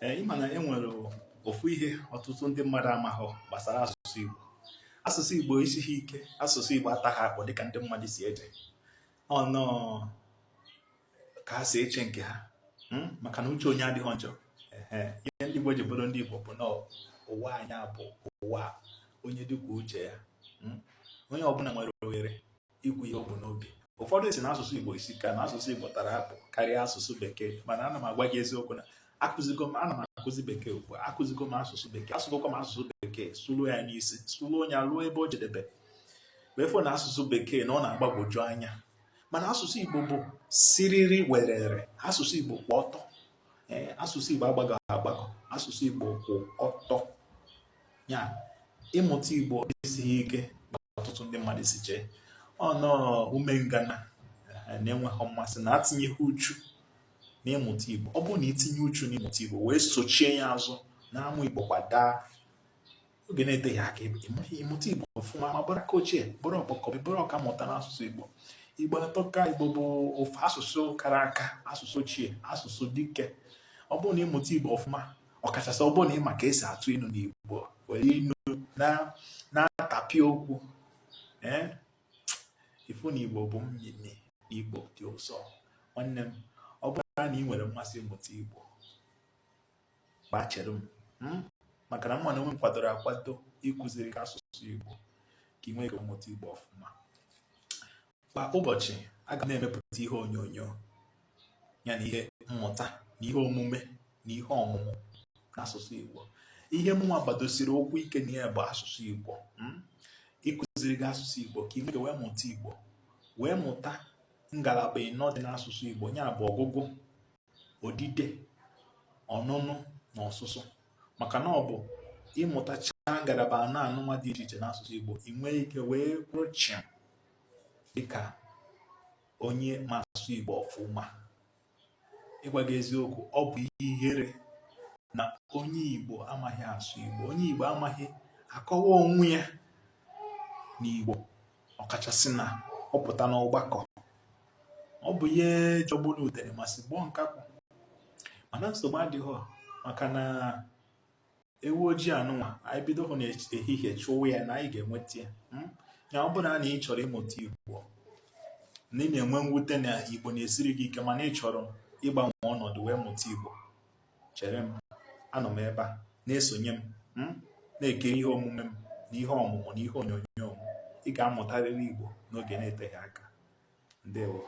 ee ịma na e nwere ofu ihe ọtụtụ ndị mmadụ amaghị gbasara asụsụ Igbo asụsụ Igbo esighị ike asụsụ Igbo ataghị akpụ dịka ndị mmadụ si eche ọ nnọọ ka ha si eche nke ha hmm? maka na uche onye adịghị njọ ihe ndị Igbo ji bụrụ ndị Igbo bụ na ụwa anyị bụ ụwa onye dị kwuo uche ya hmm? onye ọbụla nwere ohere ikwu ihe o bu n'obi ụfọdụ si na asụsụ Igbo esika na asụsụ Igbo tara akpụ karịa asụsụ bekee mana ana m agwa gị eziokwu na akụzigo m ana m akụzi bekee ugbu a akụzigo m asụsụ bekee asụgokwa m asụsụ bekee sụluo ya n'isi sụluo onye ruo ebe o jedebe wee fụ na asụsụ bekee na ọ na-agbagwoju anya mana asụsụ Igbo bụ siriri werere asụsụ Igbo kwụ ọtọ asụsụ Igbo agbagọghị agbagọ asụsụ Igbo kwụ ọtọ ya ịmụta igbo esighị ike ọtụtụ ndị mmadụ si chee ọ nnọọ ume ngana eh, na enweghị mmasị na atinyeghị uchu n'ịmụta igbo ọ bụrụ na i tinye uchu n'ịmụta igbo wee sochie ya azụ na-amụ igbo kwa daa oge na-eteghị aka ị mụta igbo ọfụma ma bụrụ aka ochie bụrụ ọkpọkọbị bụrụ ọka mmụta n'asụsụ igbo igbo atọka igbo bụ ofu asụsụ kara aka asụsụ ochie asụsụ dike ọ bụrụ na ị mụta igbo ọfụma ọkachasị ọ bụrụ na ị ma ka esi atụ inu n'Igbo were inu na-atapịa okwu ee ị fụ na Igbo bụ mmịmị Igbo dị ụsọ nwanne m ọ bụrụ na ị nwere mmasị ịmụta Igbo ngwa chere m hmm? maka na mụwa na onwe m kwadoro akwado ịkụziri gị asụsụ Igbo ka ị nwee ike mụta Igbo ọfụma Kwa ụbọchị, aga m na-emepụta ihe onyonyo ya na ihe mmụta na ihe omume na ihe ọmụmụ n'asụsụ Igbo. Ihe mụnwa gbadosiri ụkwụ ike na ya bụ asụsụ Igbo. Hmm? Ịkụziri gị asụsụ Igbo ka ị nwee ike wee mụta Igbo, wee mụta ngalaba ịnọ dị n'asụsụ Igbo, ya bụ ọgụgụ odide ọnụnụ na ọsụsụ maka na ọ bụ ị mụtachaa ngalaba anọ anụnwa dị iche iche n'asụsụ Igbo ị nwee ike wee kwụrụ chịm dịka onye ma asụsụ Igbo ọfụma ịgwa gị eziokwu ọ bụ ihe ihere na onye Igbo amaghị asụ Igbo onye Igbo amaghị akọwa onwe ya n'Igbo ọkachasị na ọ pụta n'ọgbakọ ọ bụ ihe jọgburu udene ma sigbuo nkakwụ mana nsogbu adịghị maka na ewu ojii anụnwa anyị bido hụ n'ehihie chụwa ya na anyị ga-enweta ya hmm? ya ọ bụrụ na ị chọrọ ịmụta igbo na ị na-enwe mwute na igbo na-esiri gị ike mana ị chọrọ ịgbanwe ọnọdụ wee mụta igbo chere m anọ m ebe a na-esonye m hmm? na-ekiri ihe omume m na ihe ọmụmụ na ihe onyonyo m ị ga-amụtarịrị igbo n'oge na-eteghị aka ndewo